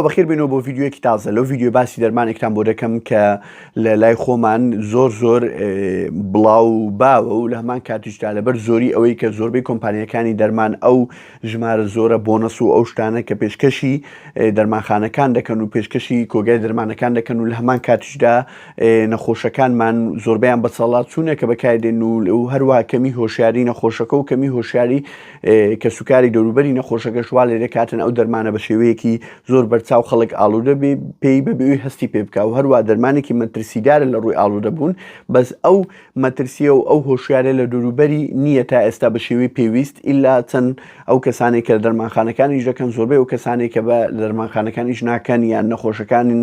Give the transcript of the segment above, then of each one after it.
بەخیر بینەوە بۆ ڤیددیوەکی تازە لەو ڤیددیو باسی دەرمانێکتان بۆ دەکەم کە لە لای خۆمان زۆر زۆر بڵاو باوە و لە هەمان کاتیشدا لەبەر زۆری ئەوەی کە زۆربەی کۆمپانیەکانی دەرمان ئەو ژمارە زۆرە بۆنەس و ئەو شتانە کە پێشکەشی دەرمانخانەکان دەکەن و پێشکەشی کۆگای دەرمانەکان دەکەن و لە هەمان کاتیشدا نەخۆشەکانمان زۆربیان بەسەڵات چوونە کە بەکاردێن و لەو هەروە کەمی هۆشیاری نەخۆشەکە و کەمی هۆشیاری کەسوکاری دەوروبەری نەخۆشەکەش وا لێ دەکاتن ئەو دەرمانە بە شێوەیەکی زۆر بەرچاو خەڵک ئاڵوودە بێ پێی بەبێوی هەستی پێ بکە و هەروە دەرمانێکی مەترسیدارە لە ڕووی ئاڵوودە بوون بەس ئەو مەترسیە و ئەو هۆشیارە لە دەوروبەری نییە تا ئێستا بە شێوەی پێویست ئللا چەند ئەو کەسانێک کە دەرمانخانەکانیش دەکەن زۆربەی ئەو کەسانێک کە بە دەرمانخانەکانیش ناکەن یان نەخۆشەکانن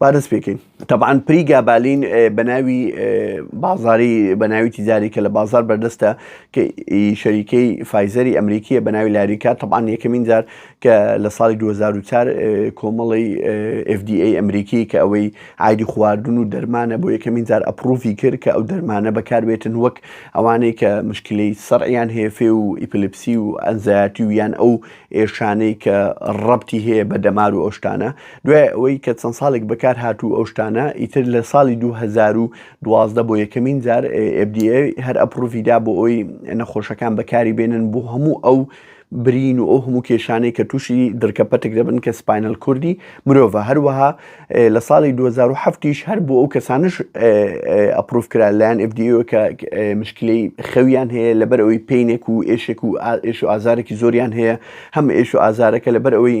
با دەست پێکەین تەبان پری گابالین بە ناوی بازاری بە ناوی تیجاری کە لە بازار بەردەستە کە شەریکەی فایزەری ئەمریکیە بە ناوی لاریکا تەبان یەکەمین جار کە لە ساڵی 2004 کۆمەڵی FDA ئەمریکی کە ئەوەی ئایدی خواردن و دەرمانە بۆ یەکەمین جار ئەپروفی کرد کە ئەو دەرمانە بەکاربێتن وەک ئەوانەی کە مشکلی سەریان هەیە فێ و ئیپلپسی و ئەنزایەتی و یان ئەو ئێشانەی کە ڕەبتی هەیە بە دەمار و ئەو شتانە، دوای ئەوەی کە چەند ساڵێک بەکارهات و ئەو شتانە، ئیتر لە ساڵی دوو هەزار و دوازدە بۆ یەکەمین جار FDA هەر ئەپڕوڤی دا بۆ ئەوەی نەخۆشەکان بەکاری بێنن بۆ هەموو ئەو برین و ئەو هەموو کێشانەی کە تووشی درکە پەتک دەبن کە سپاینەل کوردی مرۆڤە هەروەها لە ساڵی دوو هەزار و حەفت یش هەر بۆ ئەو کەسانش ئەپروف کرا لایەن FDA ەوە کە مشکلەی خەویان هەیە لەبەر ئەوەی پینێک و ئێشێک و ئا- ئێش و ئازارێکی زۆریان هەیە هەم ئێش و ئازارەکە لەبەر ئەوەی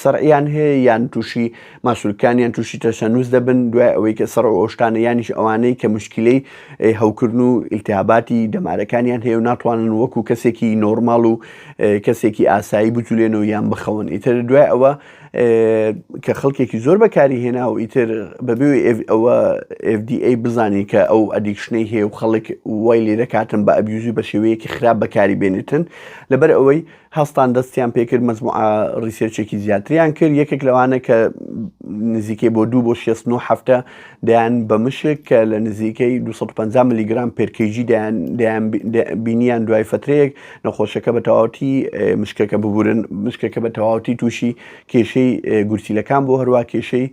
سەرعیان هەیە یان تووشی ماسولکان یان تووشی تەشەنووس دەبن دوای ئەوەی کە سەر و ئەوشتانە یانیش ئەوانەی کە مشکلەی ئێ، هەوکردن و ئیلتیهاباتی دەمارەکانیان هەیە و ناتوانن وەکو کەسێکی نۆرماڵ و ئێ، کەسێکی ئاسایی بجولێنەوە یان بخەون ئیتر دوای ئەوە کە خەڵکێکی زۆر بەکاری هێنا و ئیتر بەبێ ئەوە FDA بزانین کە ئەو ئەدیکشنەی هەیە و خەڵک وای لێ دەکاتن بە ئەبیوزی بە شێوەیەکی خراپ بەکاری بێنێتن لەبەر ئەوەی هەستان دەستیان پێکرد مەزموع ڕیسێرچێکی زیاتریان کرد یەکێک لەوانە کە نزیکەی بۆ دوو بۆ 16 هەفتە دەیان بە مشک کە لە نزیکەی 250 ملیگرام پێرکەیجی دەیان بینیان دوای فترەیەک نەخۆشەکە بە تەواوەتی مشکەکە ببورن مشکەکە بە تەواوەتی تووشی کێشەی گورچیلەکان بۆ هەروە کێشەی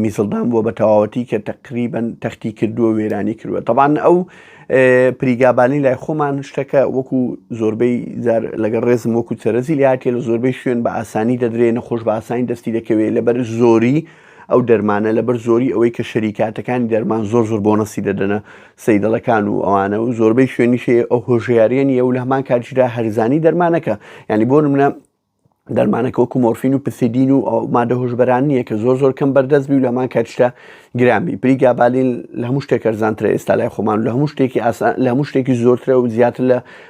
میزڵدان بووە بە تەواوەتی کە تقریبن تەختی کردووە وێرانی کردووە تەبان ئەو پریگابانی لای خۆمان شتەکە وەکو زۆربەی زار لەگەڵ ڕێزم وەکو چەرەزی لاتێ لە زۆربەی شوێن بە ئاسانی دەدرێ نەخۆش بە ئاسانی دەستی دەکەوێت لەبەر زۆری ئەو دەرمانە لەبەر زۆری ئەوەی کە شەریکاتەکانی دەرمان زۆر زۆر بۆنەسی دەدەنە سەیدەڵەکان و ئەوانە و زۆربەی شوێنیشێ ئەو هۆژیاریان یە و لە هەمان کاتیشدا هەرزانی دەرمانەکە ینی بۆ منە دەرمانەکە وەکو مۆرفین و پسیدین و ئەو مادە هۆشبەران نییە کە زۆر زۆر کەم بەردەست بی و لەمان کاتشتا گرامی پری گابالین لە هەموو شتێک ئەرزانترە ئێستا لای خۆمان لە هەموو شتێکی ئاسان لە هەموو شتێکی زۆرترە و زیاتر لە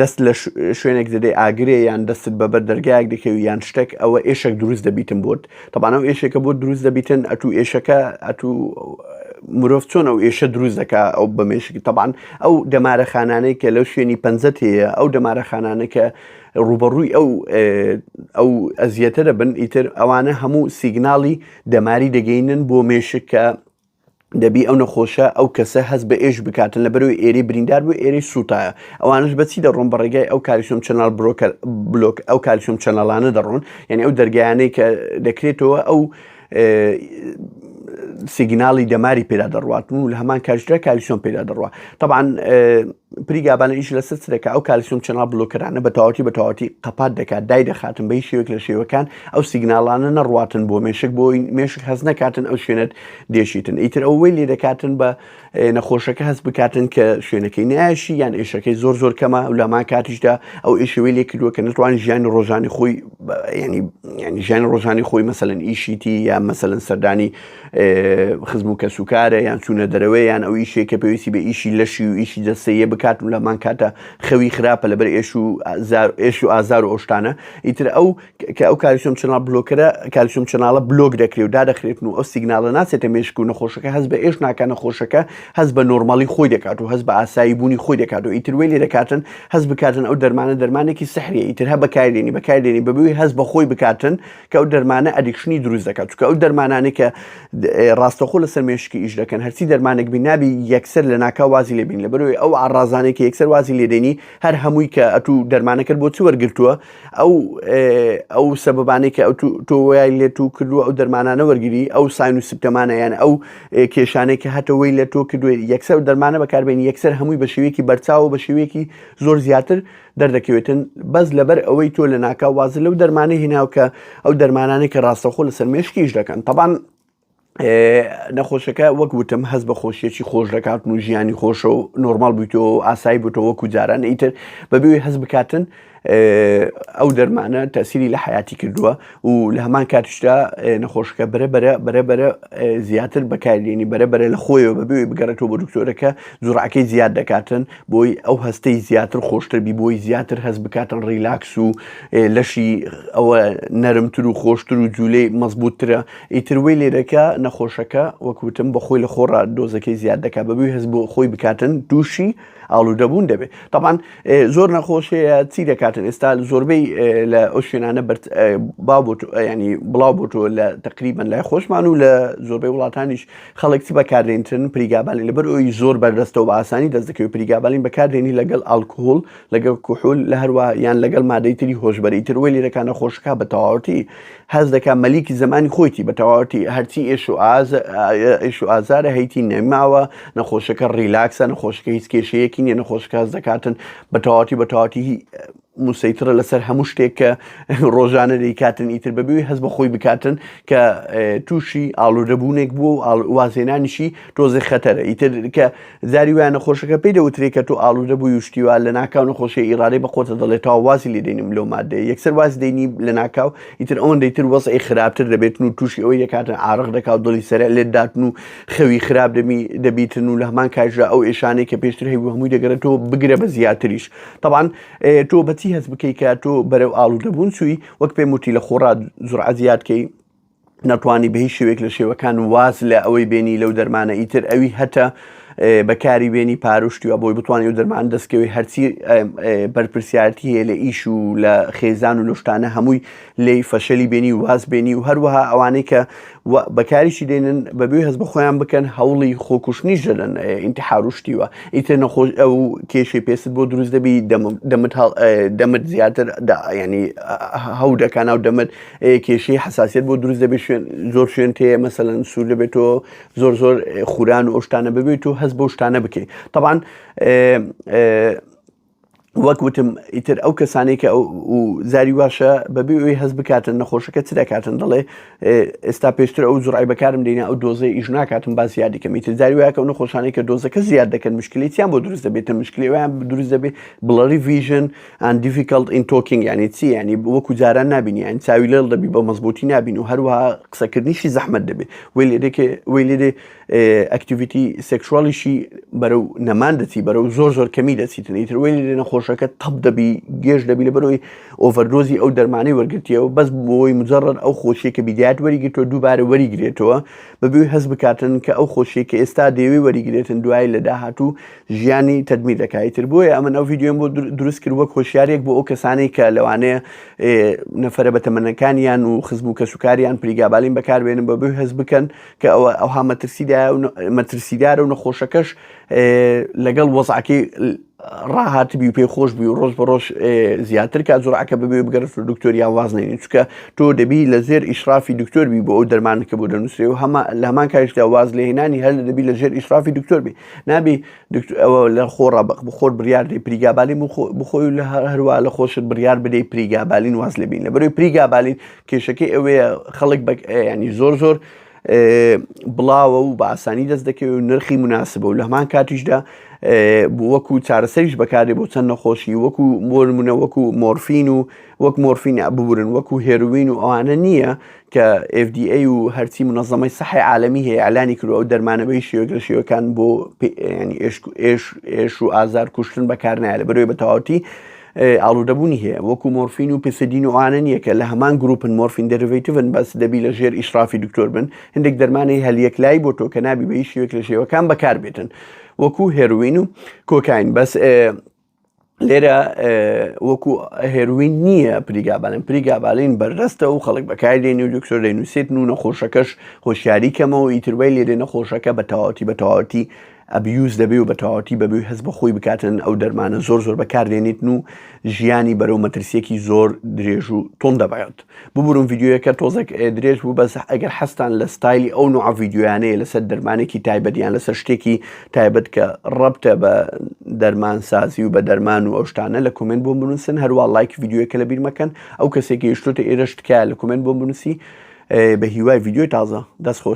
دەست لە شوێنێک دەدەی ئاگرێ یان دەستت بە بەر دەرگایەک دەکەوی یان شتێک ئەوە ئێشێک دروست دەبیتن بۆت تەبانە و ئێشێکە بۆ دروست دەبیتن ئەتو ئێشەکە ئەتو مرۆڤ چۆن ئەو ئێشە دروست دەکا ئەو بەمێشکی تەبان ئەو دەمارەخانانەی کە لەو شوێنی پەنجەت هەیە ئەو دەمارەخانانە کە ڕوبەڕووی ئەو ئەو ئەزیەتە دەبن ئیتر ئەوانە هەموو سیگناڵی دەماری دەگەینن بۆ مێشک کە دەبی ئەو نەخۆشە ئەو کەسە هەست بە ئێش بکاتن لە بەرەوەی ئێری بریندار بوو ئێری سووتایە ئەوانش بەچی دەڕۆن بە ڕێگای ئەو کالیسۆم چەنال برۆکە بلۆک ئەو کالیسۆم چەنەڵانە دەڕۆن یعنی ئەو دەرگیانەی کە دەکرێتەوە ئەو سیگناڵی دەماری پێدا دەڕوات و لە هەمان کاژرا کالیسۆم پێدا دەڕوە طبعاان پریگابانە ئیش لەسەر چ دەکات ئەو کالسیۆم چەناڵ بلۆکەرانە بە تەواوەتی بە تەواوەتی قەپات دەکات دای دەخاتن بە هیچ شێوەیەک لە شێوەکان ئەو سیگناڵانە نەڕواتن بۆ مێشک بۆی مێشک هەز نەکاتن ئەو شوێنت دێشیتن ئیتر ئەوەی لێ دەکاتن بە نەخۆشەکە هەست بکاتن کە شوێنەکەی نایشی یان ئێشەکەی زۆر زۆر کەمە و لەمان کاتیشدا ئەو ئێشەوەی لێ کردووە کە نتوان ژیانی ڕۆژانی خۆی ینی ینی ژیانی ڕۆژانی خۆی مەسەن ئیشیتی یا مەسەن سەردانی خزم و کەسوکارە یان چوونە دەرەوەی یان ئەو ئیشێک کە پێویستی بە ئیشی لەشی و ئیشی دەستەیە بکات و لەمان کاتە خەوی خراپە لەبەر ئێش و ئێش و ئازار و ئۆشتانە ئیتر ئەو کە ئەو کاریسم چناڵ بلۆکرە کالیسم چناڵە بلۆک دەکرێت و دادەخرێتن و ئەو سیگنالە ناچێتە مێشک و نەخۆشەکە هەز بە ئێش ناکە نەخۆشەکە هەز بە نۆرمالی خۆی دەکات و هەز بە ئاسایی بوونی خۆی دەکات و ئیتر وێ لێ دەکاتن هەز بکاتن ئەو دەرمانە دەرمانێکی سحری ئیتر هە بەکاردێنی بەکاردێنی بەبووی هەز بەخۆی بکاتن چکە ئەو دەرمانە ئەدیکشنی دروست دەکات چکە ئەو دەرمانانی کە ڕاستەخۆ لەسەر مێشکی ئیش دەکەن هەرچی دەرمانێک بینابی یەکسەر لە ناکە وازی لێبین لە بەروی ئەو ئاڕازانێک یەکسەر وازی لێدێنی هەر هەمووی کە ئەتوو دەرمانەکرد بۆ چی وەرگتووە ئەو ئەو سەبانەی کە ئەو تۆوەیای لێت و کردو ئەو دەرمانانە وەرگری ئەو ساین و سیپتەمانە یان ئەو کێشانەی کە هەتەوەی لە تۆ کردوێت یەکسەر دەرمانە بەکاربێن یەکسەر هەمووی بە شێوەیەکی بەرچاو بە شێوەیەکی زۆر زیاتر دەردەکەوێتن بەس لەبەر ئەوەی تۆ لە ناکاو وازە لەو دەرمانە هیناو کە ئەو دەرمانانێک کە ڕاستەخۆ لەسەر مێشکیش دەکەن تەبان نەخۆشەکە وەک وتم هەز بە خۆشیەکی خۆش دەکاتن و ژیانی خۆشە و نۆرمال بوویتەوە ئاسایی بووتەوە وەکو جاران ئیتر بەبێ هەز بکاتن ئەو دەرمانە تەسیری لە حیاتی کردووە و لە هەمان کاتیشدا نەخۆشەکە بەرە بەرە بەرە بەرە زیاتر بەکارلێنی بەرە بەرە لە خۆیەوە بەبێ بگەڕێتەوە بۆ دکتۆرەکە جوڕعەکەی زیاد دەکاتن بۆی ئەو هەستەی زیاتر خۆشتر بی بۆی زیاتر هەست بکاتن ڕیلاکس و لەشی ئەوە نەرمتر و خۆشتر و جوولەی مەزبووترە ئیتروی لێرەکە نەخۆشەکە وەکوتم بە خۆی لە خۆڕ دۆزەکەی زیاد دەکات بەبووی هەست بۆ خۆی بکاتن دووشی ئاڵوودەبوون دەبێت تاان زۆر نەخۆش هەیە چی دەکاتن ئێستا زۆربەی لە ئەو شوێنانە ینی بڵاو بۆتۆ لە تقریبان لای خۆشمان و لە زۆربەی وڵاتانیش خەڵکتی بەکاردێنتن پریگابالین لەبەر ئەوی زۆر بەردەستەوە بە ئاسانی دەست دەکەوت پریگابالین بەکاردێنی لەگەڵ ئالکهۆل لەگەڵ کوحول لە هەروە یان لەگەڵ مادەی تری هۆشببەری تر وەی لێرەکانە خۆشکە بە تەواوەتی هەست دەکا مەلیک زمانی خۆیتی بە تەواوەتی هەرچی ئێش و ئاز ئێش و ئازارە هەیتی نەماوە نەخۆشەکە ڕیلاکسە نەخۆشەکە هیچ کێشەیەکی نیە نەخۆشەکە هەز دەکاتن بە تەواتی بە تەواتی موسەیترە لەسەر هەموو شتێک کە ڕۆژانە دەیکاتن ئیتر بەبیوی هەز بە خۆی بکاتن کە تووشی ئاڵوودەبوونێک بوو و وازێنانیشی تۆزێ خەتەرە ئیتر کە زاری وایە نەخۆشەکە پێی دەوترێ کە تۆ ئاڵودە بووی و شتی وا، لەناکاو نەخۆشیە ئیڕادەی بە قۆتە دەڵێ تەواو وازی لێ دەینم لەو ماددەیە، یەکسەر واز دەینی لەناکاو ئیتر ئەوەندەی تر وەزعی خراپتر دەبێتن و تووشی ئەوەی دەکاتن عارەق دەکا و دڵی سەرێع لێت داتن و خەوی خراپ دەبیتن و لەهەمان کاتیشدا ئەو ئێشانەی کە پێشتر هەیبوو هەمووی دەگەرێتەوە بگرە بە زیاتریش تەبعەن تۆ بە چی هەست بکەی کە تۆ بەرەو ئاڵودەبوون چووی وەک پێم وتی لە خۆڕا جورعە زیاد کەی نەتوانی بە هیچ شێوێک لە شێوەکان واز لە ئەوەی بێنی لەو دەرمانە ئیتر ئەوی هەتە بەکاری بێنی پاروشتی و بۆی بتوانانی و دەرمان دەستکەوی هەرچی بەرپرسیارتی هەیە لە ئیش و لە خێزان و لەشتانە هەمووی لی فەشەلی بێنی و واز بێنی و هەروەها ئەوانەی کە بەکاریشی دێنن بەبێ هەز بە خۆیان بکەن هەوڵی خۆکوشتنیش دەدەن ئینتحاروشتیوە ئیتر نەخۆش ئەو کێشی پێست بۆ دروست دەبی دەمت دەمت زیاتر ینی هەودەکان و دەمت کێشەی حساسیت بۆ دروست دەبێت شوێن زۆر شوێن تێ مەسەەن سوور دەبێت و زۆر زۆر خوران و ئەوشتانە ببێت و هەست بۆ شتانە بکەیت طبعاان وەک وتم ئیتر ئەو کەسانی کە زاری واشە بەبێ ئەوی هەز بکاتن نەخۆشەکە چ دەکاتن دەڵێ ئێستا پێشتر ئەو زڕای بەکارم دێنە ئەو دۆزە ئیش ناکاتم باز یادیکەم ئیتر زاری وایکە و نەخۆشانەی کە دۆزەکە زیاد دەکەن مشکلیتیان بۆ دروست دەبێتە مشکلیوان دروست دەبێت بڵەری ڤژن and difficult in talking یعنی چی یعنی وەکو جاران نابین یعنی چاوی لێڵ دەبی بە مەزبوتی نابین و هەروە قسەکردنیشی زەحمت دەبێت وی لێدێکێ وی لێدێ ئەکتیویتی سێکشوالیشی بەرەو نەمان دەچی بەرەو زۆر زۆر کەمی دەچیتن ئیتر وی لێ نەخۆشەکە تەپ دەبی گێژ دەبی لە بەرەوەی ئۆڤەردۆزی ئەو دەرمانەی وەرگرتیەوە بەس بۆی مجرڕ ئەو خۆشیەکە بیدات وەریگرتەوە دووبارە وەریگرێتەوە بەبێ هەز بکاتن کە ئەو خۆشیەکە ئێستا دەیەوەی وەریگرێتن دوای لە داهاتوو ژیانی تەدمیر دەکا ئیتر بۆیە ئەمن ئەو ڤیددیۆم بۆ دروست کرد وەک هۆشیارێک بۆ ئەو کەسانی کە لەوانەیە نەفرە بە تەمەەکانیان و خزم و کەسوکاریان پلیگابالین بەکاربێنن بە بێ هەز بکەن کە ئەوە ئەوها مەترسیدا مەترسیدارە و نەخۆشەکەش لەگەڵ وەزعکی ڕاهات بی و پێ خۆش بی و ڕۆژ بە ڕۆژ زیاتر کا زۆرعکە ببێ بگەرف و دکتۆریا وازنێنی چکە تۆ دەبی لە زێر ئیشرافی دکتۆر بی بۆ ئەو دەرمانەکە بۆ دەنووسێ و هەمە لە هەمان کاریشدا واز لە هێنانی هەر دەبی لە ژێر ئیشرافی دکتۆر بی نابی دکتۆر ئەوە لە خۆ ڕەبق بخۆر بریار دی پریگابالین بخۆی لە هەروە لە خۆشت بریار بدەی پریگابالین واز لەبین لە بەروی پریگابالین کێشەکەی ئەوەیە خەڵک بە ینی زۆر زۆر بڵاوە و بە ئاسانی دەست دەکەوێت و نرخی مناسبە و لە هەمان کاتیشدا وەکو چارەسەریش بەکارێ بۆ چەند نەخۆشی وەکو مۆرمونە وەکو مۆرفین و وەک مۆرفین ببورن وەکو هێروین و ئەوانە نییە کە FDA و هەرچی منەزەمەی سەحی عالەمی هەیە ئەلانی کرو ئەو دەرمانە بەی شێوەک لە شێوەکان بۆ ئێش و ئازار کوشتن بەکار نایە لە بەرەوەی بە تەواوتی ئاڵوودەبوونی هەیە وەکو مۆرفین و پسدین و ئاەن یەکە لە هەمان گروپن مۆرفین دەرڤیتون بەس دەبی لە ژێر ئیشرافی دکتۆر بن هەندێک دەرمانی هەلیەک لای بۆ تۆ کە نابی بە هیچ شێوەک لە شێوەکان بەکار بێتن وەکو هێروین و کۆکین بەس لێرە وەکو هێروین نییە پریگابالین پریگابالین بەردەستە و خەڵک بەکای لێنی و دکتۆر لە نووسێت و نەخۆشەکەش هۆشیاری کەمەوە ئیتروای لێرێ نەخۆشەکە بە تەواوەتی بە تەواوەتی ئەبیوز دەبێ و بە تەواوەتی بەبووی هەز بە خۆی بکاتن ئەو دەرمانە زۆر زۆر بەکاردێنیتن و ژیانی بەرەو مەترسیەکی زۆر درێژ و تۆن دەبات. ببورن ڤیدیۆیەکە تۆزێک درێژ بوو بەس ئەگەر حەستان لە ستایلی ئەو نوع ڤیددیویانەیە لەسەر دەرمانێکی تایبەت یان لەسەر شتێکی تایبەت کە ڕەبتە بە دەرمان سازی و بە دەرمان و ئەوشتانە لە کومنت بۆ بنووسن هەروە لایک ڤیددیوەکە لە بیرمەکەن ئەو کەسێکی یشتوتە ئێرە شتکە لە کومنت بۆ بنووسی بە هیوای ڤیددیوی تازە دەست خۆش